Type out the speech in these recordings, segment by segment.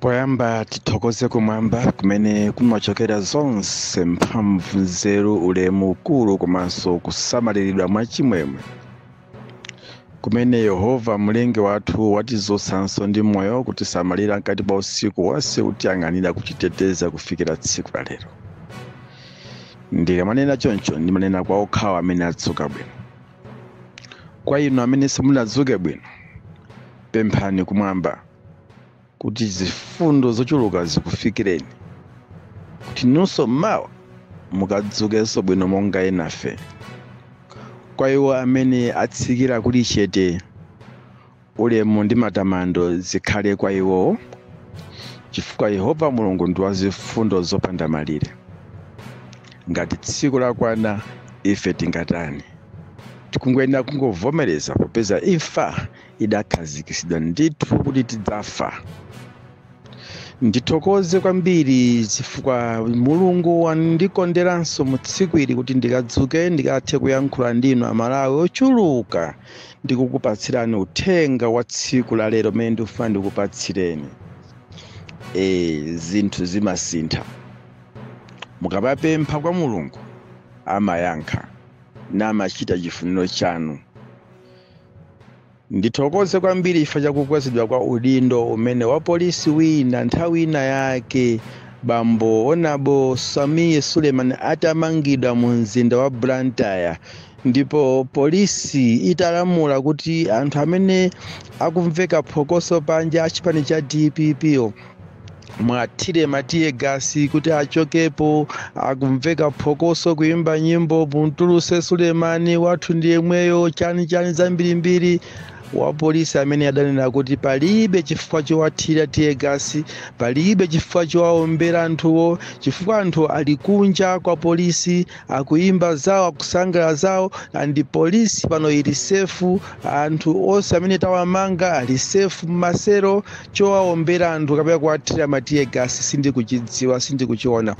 Poyamba tithokoze kumwamba kumene kumachokera zonse mphamvu, nzeru, ulemu, ukulu komanso kusamaliridwa mwachimwemwe kumene Yehova Mlengi wathu watizutsanso ndi moyo kutisamalira mkati pa usiku wonse kutiyang'anira kutiteteza kufikira tsiku la lero. Ndikamanena choncho ndimanena kwa okhawo amene adzuka bwino. Kwa inu amene simunadzuke bwino, pemphani kumwamba kuti zifundo zochuluka zikufikireni kuti inunso mmawa mukadzukenso bwino monga enafe kwa iwo amene atsikira kuli chete ulemu ndi matamando zikhale kwa iwowo chifukwa yehova mulungu ndi wa zifundo zopanda malire ngati tsiku lakwana ife tingatani tikungoyenera kungovomereza popeza imfa idakhazikitsidwa ndithu kuti tidzafa ndithokoze kwambiri chifukwa mulungu wandikonderanso mu tsiku ili kuti ndikadzuke ndikathe kuyankhula ndinu amalawi ochuluka ndi kukupatsirani uthenga wa tsiku la lero umene ndikufuna ndikupatsireni e, zinthu zimasintha mukapapempha kwa mulungu amayankha namachita chifuniro chanu Ndithokoze kwambiri chifukwa cha kukwezedwa kwa udindo umene wapolisi wina nthawi ina yake bambo Honorable Sameer Suleiman atamangidwa mu mzinda wa Blantyre ndipo polisi italamula kuti anthu amene akumveka phokoso panja a chipani cha DPP muwathire ma tear gas kuti achokepo akumveka phokoso kuimba nyimbo mumtulutse Suleiman wathu ndi yemweyo chani chani zambirimbiri wapolisi amene adanena kuti palibe chifukwa chowathira tear gas palibe chifukwa chowaombera anthuwo chifukwa anthu ali kunja kwa polisi akuimba zawo akusangalala zawo and polisi pano ili safe anthu onse amene tawamanga ali safe m'ma cell chowaombera anthu kapena kuwathira ma tear gas sindikuchidziwa sindikuchiona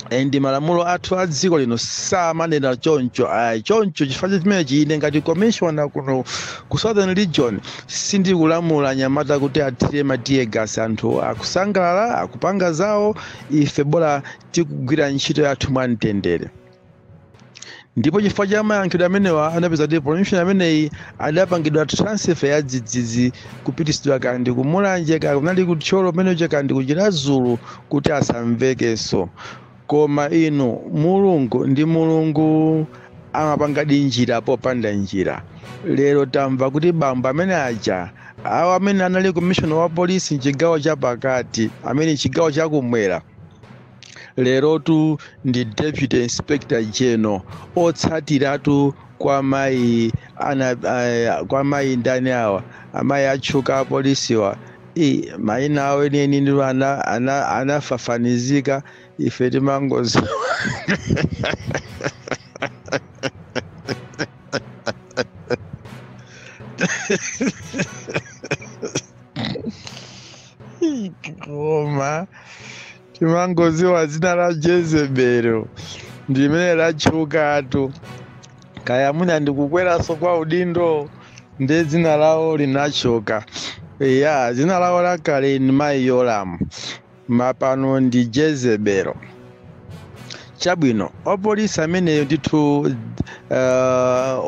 and malamulo athu a dziko lino samanena choncho ayi choncho chifukwa cha chimenechi ine ngati commissioner kuno ku southern region sindikulamula anyamata kuti athire ma tear gas anthu akusangalala akupanga zawo ife bola tikugwira ntchito yathu mwa mtendere ndipo chifukwa cha mayankhidwe amenewa anapeza kuti komishona ameneyi adapangidwa transfer ya dzidzidzi kupitisidwa kandi kumulanje ka kunali kuthyolo amenecho kandi kuchiradzulu kuti asamvekenso koma inu mulungu ndi mulungu amapangadi njira popanda njira lero tamva kuti bambo amene aja awa amene anali komishona wa polisi mchigawo cha pakati amene mchigawo chakumwera lerotu ndi deputy inspector general otsatiratu kwa mayi ana eh, kwa mayi ndani awa amayi atchuka apolisiwa i mayina awo enieni ndi ana- ana- anafafanizika ife timangozi koma timangoziwa dzina la jezebelo ndimene latchukatu kaya mwina ndikukweraso kwa udindo ndi dzina lawo linatchuka iya dzina lawo lakale ni mayi yolamu mapano ndi jezebelo chabwino opolisi ameneyo ndithu uh,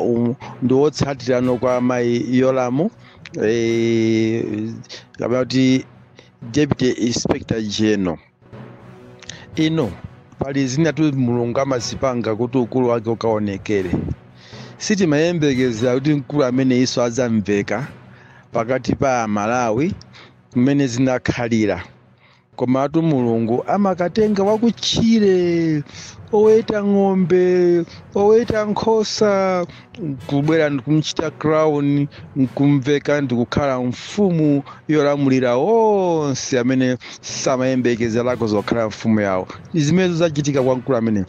um, ndi wotsatirano kwa mayi yolamu eh, kapena kuti deputy inspector general inu pali zinatu mulungu amazipanga kuti ukulu wake ukaonekere sitimayembekezera kuti mkulu ameneyiso adzamveka pakati pa amalawi mmene zinakhalira Komatu Mulungu amakatenga wakutchire, oweta ng'ombe, oweta nkhosa, nkubwera ndikumchita crown, nkumveka ndikukhala mfumu yolamulira onse amene samayembekezerako zokhala mfumu yawo. Ndi zimenezo zachitika kwa mkulu ameneyi.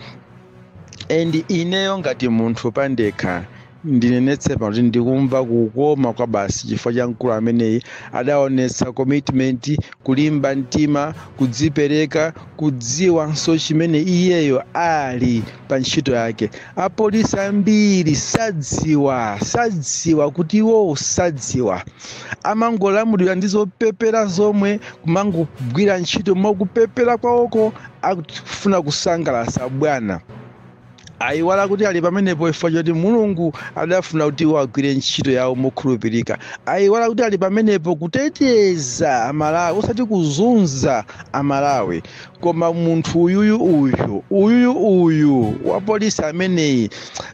And ineyo ngati munthu pandekha, Ndinenetse pano kuti ndikumva kukoma kwabasi chifukwa cha mkulu ameneyi. Adaonetsa commitment, kulimba mtima, kudzipereka, kudziwanso chimene iyeyo ali pa ntchito yake. Apolisi ambiri sadziwa, sadziwa kuti iwowo sadziwa. Amangolamulidwa ndi zopepera zomwe, kumangogwira ntchito mwa kupepera kwawoko akufuna kusangalatsa bwana. ayiwala kuti ali pamenepo chifukwa choti mulungu adafuna kuti iwo agwire ntchito yawo mokhulupirika ayiwala kuti ali pamenepo kuteteza amalawi osati kuzunza amalawi koma munthu uyuyu uyu uyuyu uyu wa polisi ameneyi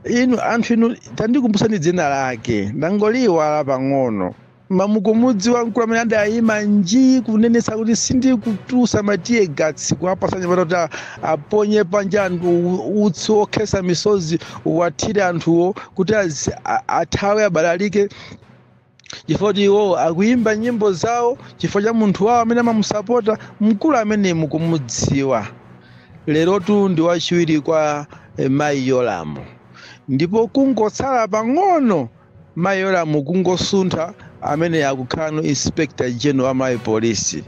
inu anthu inu tandikumbusani dzina lake ndangoliiwala pang'ono mamukumudziwa mkulu amene adayima nji kunenetsa kuti sindikutulutsa ma tear gas kuwapatsa anyamata kuti a- aponye panja anthu u- utsi wokhetsa misozi uwathire anthuwo kuti azi- a- athawe abalalike chifukwa kuti iwo akuyimba nyimbo zawo chifukwa cha munthu wawo amene amamusapota mkulu amene mukumudziwa lerotu ndi wachiwiri kwa eh, mayi yolamu ndipo kungotsala pang'ono mayi yolamu kungosuntha ameneyo akukhalano inspector general wa Malawi police.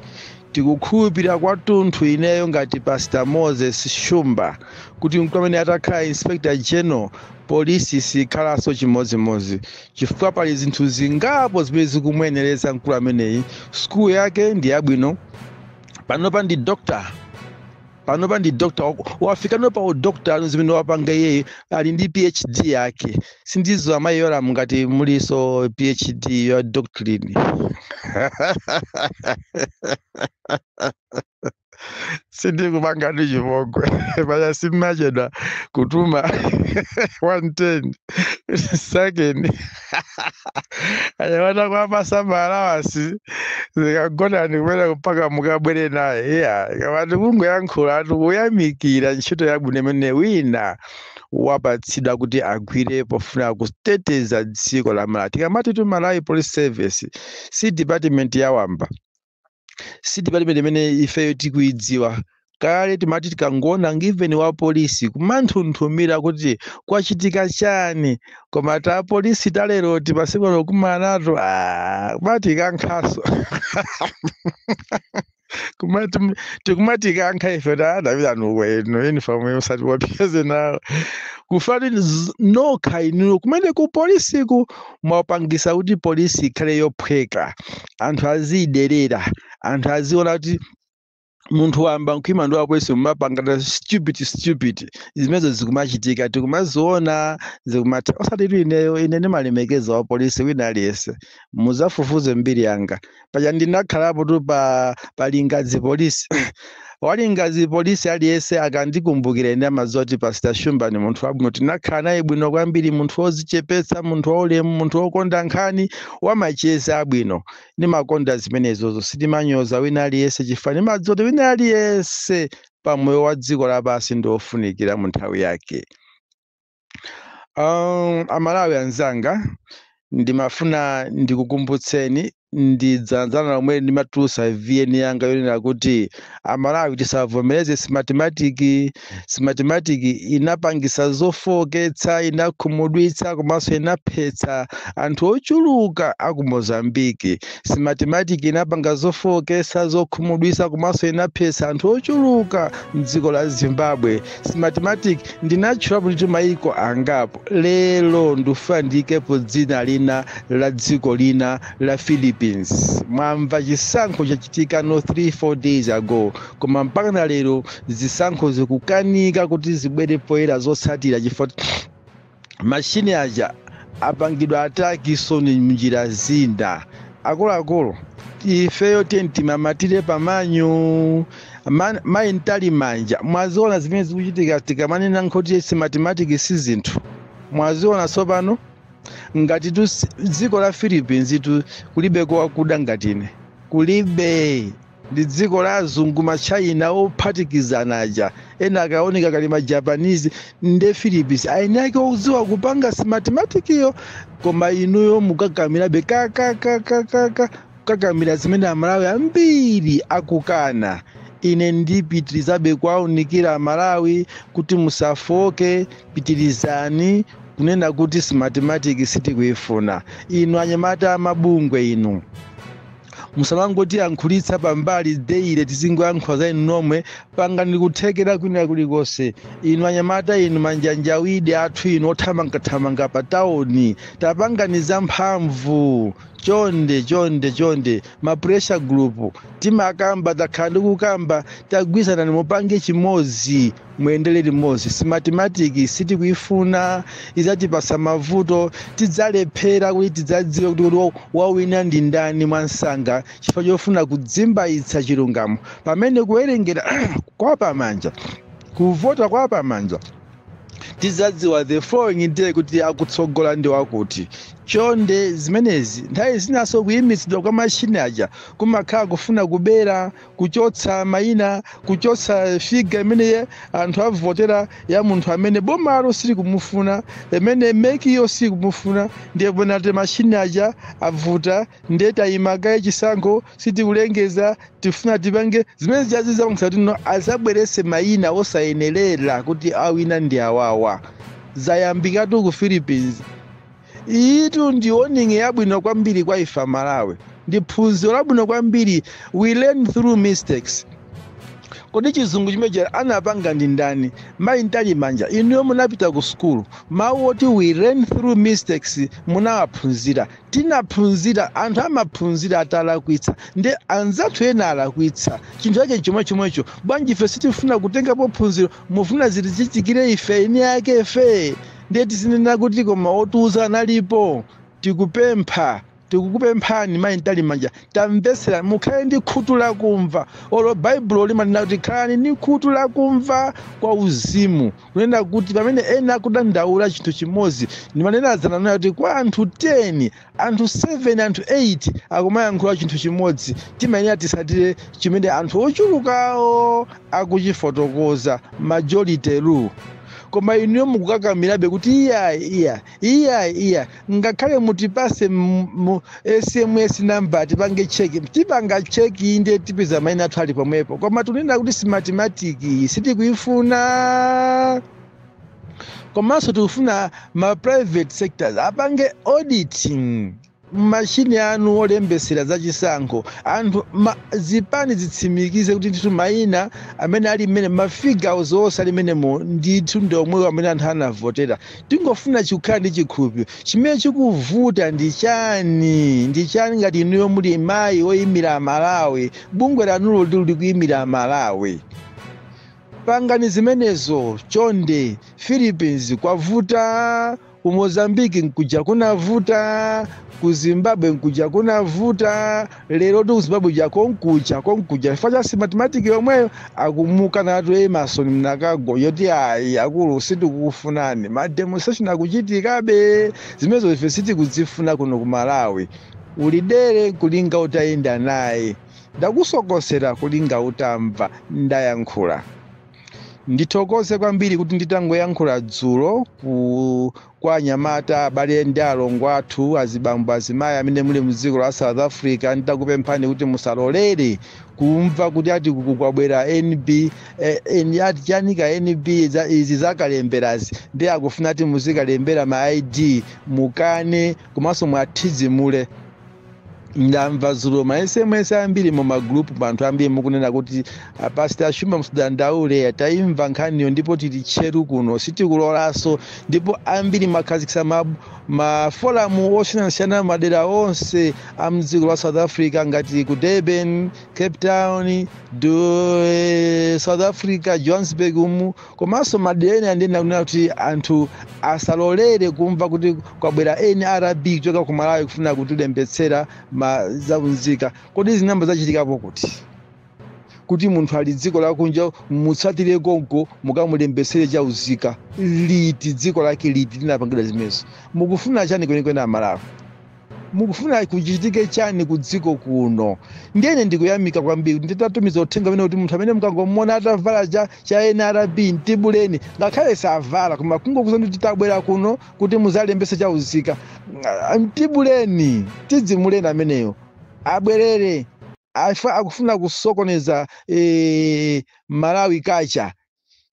Tikukhulupirira kwathunthu ineyo ngati pastor Moses Shumba kuti mkulu ameneyi atakhala inspector general polisi sikhalanso chimodzimodzi chifukwa pali zinthu zingapo zimene zikumuyenereza mkulu ameneyi. Sukulu yake ndi yabwino, panopa ndi doctor. panopa ndi doctor wafikano pa udoctor zimene wapanga iyeyo ali ndi phd yake sindizo amayi yolam ngati mulinso phd ya doctrine sindikupangani chipongwe paja simmachedwa kutuma 110 second anyamata kuwapatsa ma allowance zikagonani kumene mpaka mukabwere naye iya tikamati kungoyankhula ati kuyamikira ntchito yabwino imene wina wapatsidwa kuti agwire pofuna kuteteza dziko la malawi tikamati tu malawi police service si department ya wamba si department imene ifeyo tikuidziwa kale timati tikangoona ndi galimoto veni wa polisi kumanthunthumira kuti kwachitika chiyani koma ta polisi talero timasiku ano kumana nato ah, kumatikankhanso tikumatikankha ife tidavala nawo ino uniform yosati yopeze nawo kufati z- nokha inuyo kumene ku polisiku mwapangisa kuti polisi ikhale yophweka anthu aziyiderera anthu aziona kuti munthu wamba mkhwima ndi wapolisi mumapanga ta stupid stupid zimenezo zikumachitika tikumaziona zikumatha osatitu ineyo ine ndimalemekeza wa polisi wina aliyense mudzafufuze mbiri yanga paja ndinakhalapotu pa Lingadzi polisi wa Lingadzi police aliyense akandikumbukira ine amadziwa kuti pastor shumba ni munthu wabwino tinakhala naye bwino kwambiri munthu wodzichepetsa munthu waulemu munthu wokonda nkhani wamacheza abwino ndimakonda zimenezozo sindimanyoza wina aliyense chifukwa ndimadziwa kuti wina aliyense pamoyo wa dziko lapansi ndi wofunikira mu nthawi yake Um, amalawi anzanga ndimafuna ndikukumbutseni ndi dzana-dzana lomwe ndimatulusa vn yanga yonena kuti amalawi tisavomereze simatimatiki simatimatiki inapangisa zofowoketsa inakhumudwitsa komanso inaphetsa anthu ochuluka aku mozambiki simatimatiki inapanga zofowoketsa zokhumudwitsa komanso inaphetsa anthu ochuluka mdziko la zimbabwe smartmatic ndinatchulapo ndithu mayiko angapo lero ndufuna ndiyikepo dzina lina la dziko lina la philippines mwamva chisankho chachitika no 3 4 days ago koma mpaka na lero zisankho zikukanika kuti zibwere poyera zotsatira chifukwa mashini aja apangidwa attack so ndi mnjira zina akuluakulu ifeyo tiyeni timamatire pa manual mayi Mtalimanja mwaziona zimene zikuchitika tikamanena kuti simatimatiki si zinthu mwaziona tsopano ngati tu si- dziko la Philippinestu kulibe kowakuda ngati ine kulibe ndi dziko la azungu ma China ophatikizana aja ena akaoneka ngati ma japanese nde Philippines eni ake oziwa kupanga simatimatikiyo koma inuyo mukakamirabe kakakakakaka kukakamira zimene amalawi ambiri akukana ine ndipitirizabe kuwaunikira amalawi kuti musafoke pitirizani kunena kuti simatimatiki sitikuifuna inu anyamata amabungwe inu musamangotiyankhulitsa pambali deile tizingoyankhula za inu nomwe pangani kuthekera kwina kulikonse inu anyamata inu manjanjawidi athu inu othamangathamanga pa tauni tapangani za mphamvu chonde chonde chonde ma pressure group timakamba takhala ndikukamba tagwirizanani mupange chimodzi muyendere limodzi simatimatiki sitikuifuna idzatipasa mavuto tidzalephera kuti tidzadziwe kuti kuti wawina ndi ndani mwamsanga chifukwa chofuna kuzimbaitsa chilungamo pamene kuwerengera kwa pamanja kuvota kwa pamanja tizadziwa the following day kuti akutsogola ndi wakuti chonde zimenezi nthawi zinaso kuyimitsidwa kwa mashini aja kumakhala kufuna kubera kuchotsa mayina kuchotsa figa imene eh anthu avotera ya munthu amene bomalo silikumufuna imene MEC-yo silikumufuna ndiye ponati mashini aja avuta ndiye tayimakaye chisankho sitikulengeza tifuna tipange zimene zazizamukisa kuti no azabwerese mayina osayenerera kuti awina ndi awawa zayambikatu ku philippines iyitu ndi warning yabwino kwambiri kwa ife amalawi ndi phunziro labwino kwambiri we learn through mistakes kodi chizungu chimenechi anapanga ndi ndani mayi Mtalimanja inuyo munapita ku sukulu mawu oti we learn through mistakes munawaphunzira tinaphunzira anthu amaphunzira atalakwitsa nde anzathu ena alakwitsa chinthu chake chomwe chomwecho bwanji ife sitifuna kutengapo phunziro mufuna zitichitikire ife eni ake ife ndiye tizinena kuti koma otiuza analipo tikupempha tikukupemphani mayi mtalimanja tamvetserani mukhale ndi khutu lakumva olo baibulo limanena kuti khalani ndi khutu lakumva kwa uzimu kunena kuti pamene ena akudandaula chinthu chimodzi ndimanena zananena kuti kwa anthu 10 anthu 7 anthu 8 akumayankhula chinthu chimodzi timayenera titsatire chimene anthu ochulukawo akuchifotokoza majority rule koma inuyo mukukakamirabe kuti iya iya iya iya ngakhale mutipase mu- mu sms number tipange cheki tipanga cheki inde tipeza maina athu ali pomwepo koma tunena kuti smatimatiki sitikuifuna komanso tikufuna ma private sectors apange auditing mmashini anu olembesera za chisankho anthu ma, zipani zitsimikize kuti ndithu mayina amene ali mmene mafigures onse ali mmenemo ndithu ndi omwewo amene anthu anavotera tingofuna chi- kukhala ndi chikhulupiriro chimene chikuvuta ndi chani ndi chani ngati inuyo muli mayi oyimira amalawi bungwe lanulo lilikuimira amalawi Pangani zimenezo chonde Philippines kwavuta, ku Mozambique nkuja kunavuta, ku Zimbabwe nkuja kunavuta, lerotu ku Zimbabwe kuja konkuja konkuja chifukwa cha Smartmatic yomweyo akumukanatu Emerson Mnangagwayo kuti ayi akulu sitikukufunani, ma demonstration akuchitikabe zimenezo ife sitikuzifuna kuno ku Malawi, uli dere nkulinga utayenda naye. Ndakusokosera kulinga utamva ndayankhula. Ndithokoze kwambiri kuti nditangoyankhula dzulo ku kwa anyamata abale ndi alongo athu azibambo azimayi amene muli mu dziko la South Africa ndidakupemphani kuti musalolere kumva kuti ati kukubwera NB eh, eh, ati chani ka NB za- izi zakalemberazi ndiye akufuna ati muzikalembera ma ID mukane komanso muwathidzimule ndamva dzulo ma sms ambiri mu magulupumu anthu ambiri mukunena kuti apasita Shumba msudandaule tayimva nkhaniyo ndipo tili tcheru kuno sitikulolanso ndipo ambiri mwakhazikitsa ma, ma foramu osiyanasiyana madera onse a mdziko la south africa ngati ku durban cape town du, eh, south africa johannesburg umu komanso madera ena ndiye ndikunena kuti anthu asalolere kumva kuti kwabwera nrb kuchoka ku malawi kufuna kutilembetsera ma zaunzika kodi zinayamba zachitikapo kuti kuti munthu ali dziko lakunja mutsatire konko mukamulembetsere chauzika liti dziko lake liti linapangidwa zimenezo mukufuna chani kwenikweni amalawi mukufuna kuchitike chani ku dziko kuno ndiyene ndikuyamika kwambiri kuti nditatumiza uthenga umene kuti munthu amene mukangomuona atavala cha, cha nrb mtibuleni ngakhale savala koma kungokuza kuti tabwera kuno kuti muzalembese chauzika mtibuleni tidzimuleni ameneyo abwerere akufuna kusokoneza eh, malawi kacha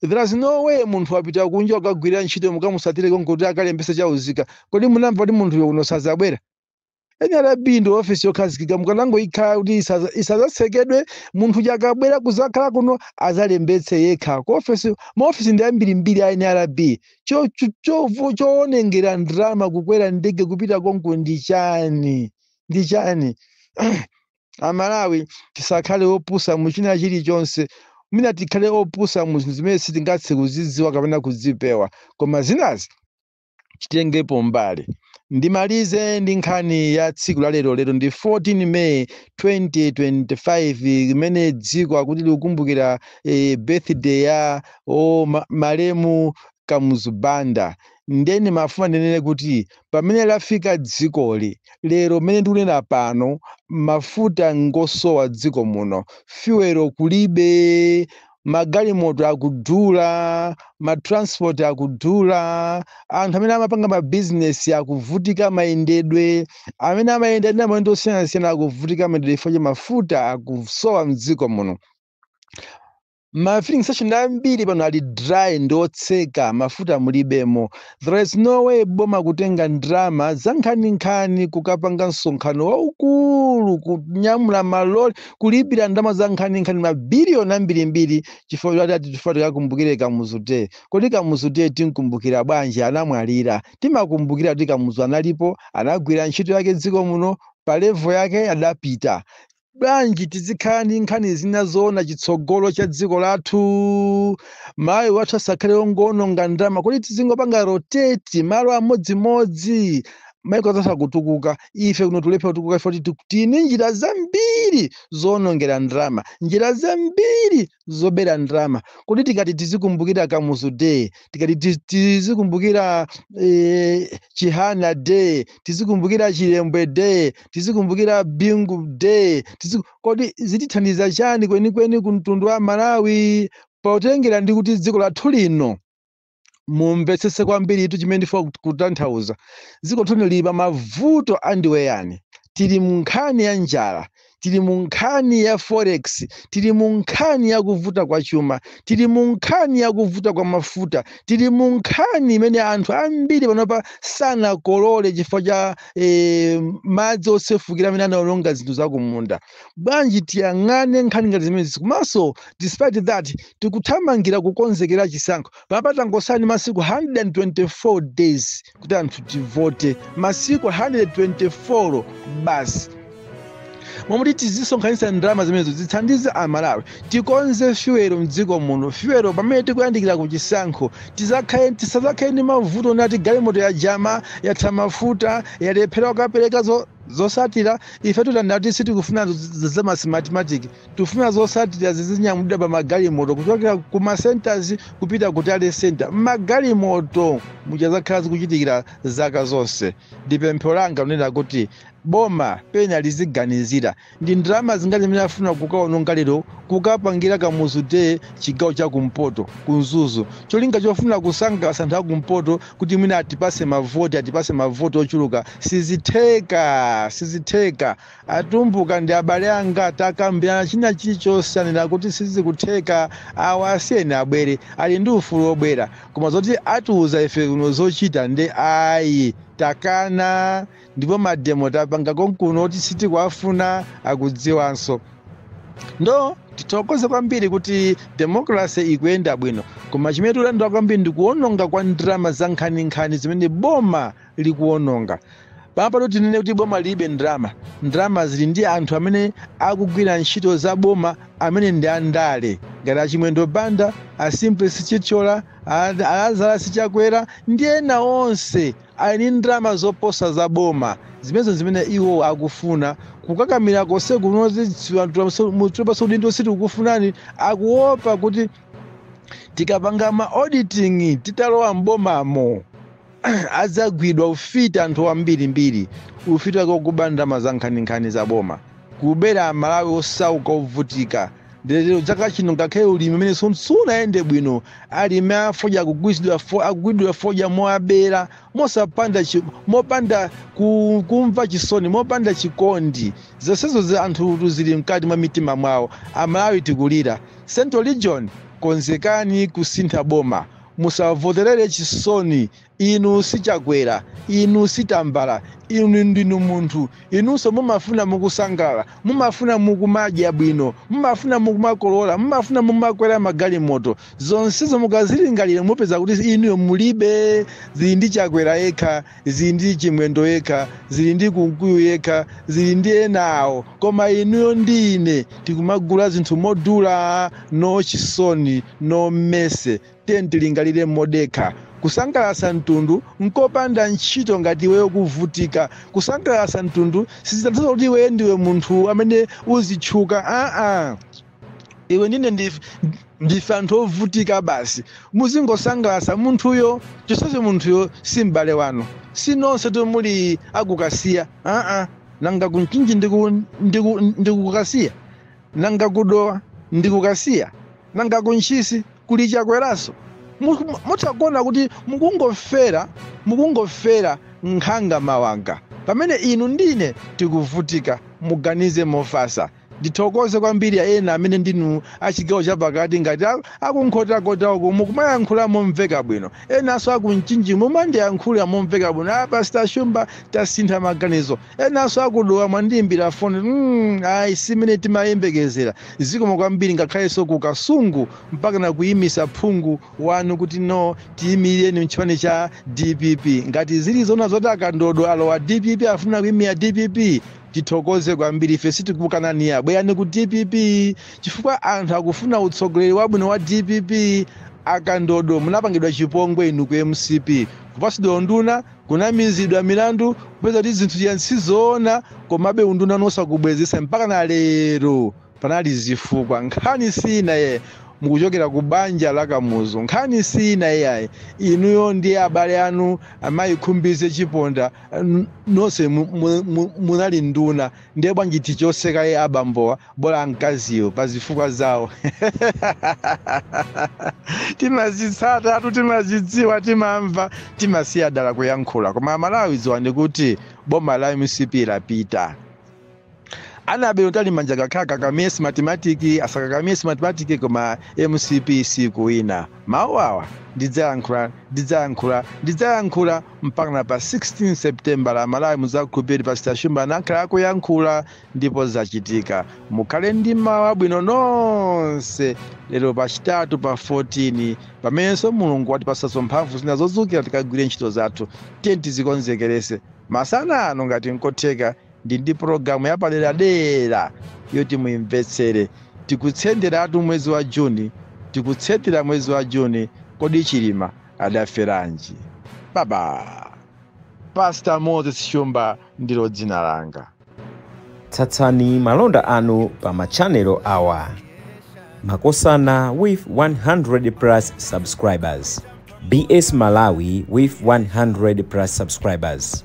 There's no way munthu apita kunja kukagwirira ntchito mukamusatire konko kuti akalembese chauzika. Kodi munamva kuti munthuyo uno sazabwera? NRB ndi office yokhazikika mukanangoyikhala kuti isaza- isazatsekedwe munthu uja akabwera kuzakhala kuno azalembetse yekha. Ku office ma office ndi ambirimbiri a NRB. Cho cho- chovu- choonengera ndalama kukwera ndege kupita konko ndi chani? Ndi chani? amalawi tisakhale opusa mu china chilichonse mwina tikhale opusa mu zinthu zimene sitingathe kuzidziwa kapena kudzipewa koma zinazi titengepo mbali ndimalize ndi nkhani ya tsiku la lero lero ndi 14 may 2025 imene dziko akuti likukumbukira eh, birthday ya o ma, malemu kamuzu banda nde ndimafuna ndinene kuti pamene lafika dzikoli lero mmene ndikunena pano mafuta ngosowa dziko muno fuwelo kulibe magalimoto akudula matransport akudula anthu amene amapanga mabizinesi akuvutika mayendedwe amene amayenda ndi maulendo osiyanasiyana akuvutika mayendedwe chifukwa cha mafuta akusowa mdziko muno ma filling station ambiri pano ali dry ndi otseka mafuta mulibemo there is no way boma kutenga ndrama zankhaninkhani kukapanga msonkhano waukulu kunyamula maloli kulipira ndalama zankhaninkhani mabiliyoni ambirimbiri chifukwa choti ati tifuna tikakumbukire kamuzu day kodi kamuzu day tinkumbukira bwanji anamwalira timakumbukira kuti kamuzu analipo anagwira ntchito yake dziko muno pa levo yake adapita Bwanji tizikhala ndi nkhani zina zoona chitsogolo cha dziko lathu? Malawi wathu asakhale wongoononga ndalama. Kodi tizingopanga rotate malo amodzimodzi? Maiko anzathu akutukuka, ife kuno tulephera kutukuka chifukwa tili ndi njira zambiri zoonongera ndalama, njira zambiri zobera ndalama kodi tikati tizikumbukira kamuzu day tikati tiz- tizikumbukira eh, chihana day tizikumbukira chilembwe day tizikumbukira bingu day tiziku... kodi zitithandiza chani kwenikweni ku mtundu wa malawi potengera ndi kuti dziko lathu lino mumvetsese kwambiri ithu chimene ndifuna kut- kutanthauza dziko lathu lili pa mavuto adzaoneni tili mu nkhani ya njala tili mu nkhani ya forex tili mu nkhani ya kuvuta kwa chuma tili mu nkhani ya kuvuta kwa mafuta tili mu nkhani imene anthu ambiri panopa sanakolole chifukwa cha eh, madzi osefukira amene anaononga zinthu zakumunda bwanji tiyang'ane nkhani ngati zimenezi komanso despite that tikuthamangira kukonzekera chisankho panopa tangosala ndi masiku 124 days kuti anthu tivote masiku 124 basi momwe tizisonkhanitsa ndalama zimenezo zithandize amalawi tikonze fuel mdziko muno fuel pamene tikuyandikira ku chisankho tizakhale tisazakhale ndi mavuto nati galimoto ya jama yatha mafuta yalephera kukapereka zo Zotsatira, Ifetu tanena kuti sitikufuna za mathematimatiki, tikufuna zotsatira zizinyamulidwa pa magalimoto kuchokera ku ma centres kupita ku tally centre m'magalimoto mmene zakhala zikuchitikira zaka zonse. Ndi pempho langa lonena kuti boma pena liziganizira Ndi ndalama zingati zimene afuna kukawononga lero kukapangira Kamuzu Day chigawo cha kumpoto ku Mzuzu cholinga chofuna kusangalatsa anthu akumpoto kuti mwina atipase mavoti atipase mavoti ochuluka sizitheka sizitheka atumbuka ndi abale anga takambirana china chilichonse anena kuti sizikutheka awa asiyeni abwere ali ndi ufulu wobwera koma zoti atiuza ife kuno zochita nde ayi takana ndipo mademo tapanga konkuno oti sitikuwafuna akudziwanso ndo tithokoze kwambiri kuti demokrasi ikuyenda bwino koma chimene tikudandaula kwambiri ndi kuononga kwa ndalama za nkhaninkhani zimene boma likuononga panopatu tinene kuti boma lilibe ndalama ndalama zili ndi anthu amene akugwira ntchito za boma amene ndi andale ngati a Chimwendo Banda a Simplex Chithyola a Lazarus Chakwera ndi ena onse ali ndi ndalama zoposa za boma. Zimenezo nzimene iwo akufuna. Kukakamira konseku noti mutipatseko udindo sitikukufunani, akuopa kuti tikapanga ma auditing titalowa m'bomamo adzagwidwa. Ufiti anthu ambirimbiri, ufiti wake wokuba ndalama zankhaninkhani za boma, kubera Amalawi osauka ovutika. Lero chaka chino ngakhale ulimi umene sun- sunayende bwino alimi afodya akugwiridwa fo- akugwiridwa fodya moabera mosapanda chi- mopanda ku- kumva chisoni mopanda chikondi zonsezo zi- anthutu zili mkati mwa mitima mwawo amalawi tikulira central region konzekani kusintha boma musavoterere chisoni Inu si Chakwera, inu si Tambala, inu ndinu munthu. Inunso mumafuna mukusangalala, mumafuna mukumadya bwino, mumafuna mukumakolola, mumafuna mumakwera magalimoto. Zonsezo mukazilingalira mupeza kuti inuyo mulibe. Zili ndi Chakwera yekha, zili ndi Chimwendo yekha, zili ndi Kunkuyu yekha, zili ndi enawo. Koma inuyo ndi ine tikumagula zinthu modula. No chisoni, no mercy. Tiyeni tilingalire modekha. Kusangalatsa mtundu nkopanda ntchito ngati iweyo ukuvutika. Kusangalatsa mtundu sizitanthauza kuti iweyo ndiwe munthu amene uzitchuka. Aa! Iwe ndine ndif- ndife anthu ovutika basi. Muzingosangalatsa munthuyo chonsecho munthuyo si m'bale wanu. Si nonsetu muli a ku Kasiya. Aa! Nanga ku Mchinji ndi ku- ndi ku- ndi ku Kasiya? Nanga ku Dowa ndi ku Kasiya? nanga ku ntchisi kuli chakweranso mutha kuona kuti mukungofera mukungofera nkhanga mawanga pamene inu ndine tikuvutika muganize mofasa ndithokoze kwambiri ya ena amene ndinu achigawo chapakati ngati a- akunkhotakota uku mukumayankhula momveka bwino enanso akumchinji mumandiyankhula momveka bwino a pastor shumba tasintha maganizo Enanso aku Dowa mwandiimbira foni mm, ayi simene timayembekezera zikomo kwambiri ngakhalenso ku Kasungu mpakana kuyimisa phungu wanu kuti no tiyimirireni mchipani cha dpp ngati zili zona zoti akandodo alowa dpp afuna kuyimira dpp tithokoze kwambiri ife sitikukanani ayi bwerani ku dpp chifukwa anthu akufuna utsogoleri wabwino wa dpp akandodo munapangidwa chipongwe inu ku mcp kupasidwa unduna Kunamizidwa milandu kupeza kuti zinthu zija sizoona komabe undunanu osakubwezesa mpakana lero panali zifukwa nkhani si ina iyayi mukuchokera ku banja la Kamuzu nkhani si ina iyayi inuyo ndi abale anu amayi Khumbize Chiponda nonse munali nduna Ndiye bwanji tichose kaye abambowa bola amkaziwo pa zifukwa zawo timazitsatatu timazidziwa timamva timasiya dala kuyankhula koma amalawi dziwani kuti boma la mcp lapita Annabel Mtalimanja akaka- akakamire Smartmatic asakakamire Smartmatic koma mcp sikuwina Mawu awa, Ndidzayankhula, ndidzayankhula, ndidzayankhula, mpakana pa 16 Sepitembala, Amalawi mudzakhulupirire kuti Pastor Shumba anakhala akuyankhula ndipo zachitika. Mukhale ndi mmawa wabwino nonse. Lero pachitatu pa 14, pamenenso Mulungu watipatsaso mphamvu zina zodzukira tikagwire ntchito zathu, tiyeni tizikonzekeretse masana ano ngati nkotheka, ndili ndi pologalamu yapaderadera yoti muimvetsere tikutsenderatu mwezi wa juni tikutsendera mwezi wa juni kodi chilima adaferanji baba pasta moses shumba ndilo dzina langa tsatsani malonda anu pa machanelo awa makosana with 100 plus subscribers bs malawi with 100 plus subscribers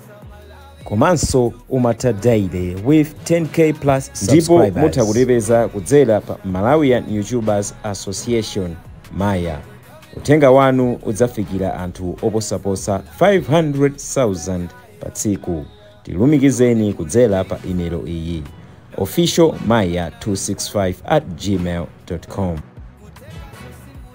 komanso umatha daily with 10k plus subscribers ndipo mutha kutipeza kudzera pa malawian youtubers association maya uthenga wanu udzafikira anthu oposaposa 500,000 pa tsiku tilumikizeni kudzera pa imelo iyi official maya 265 at gmail com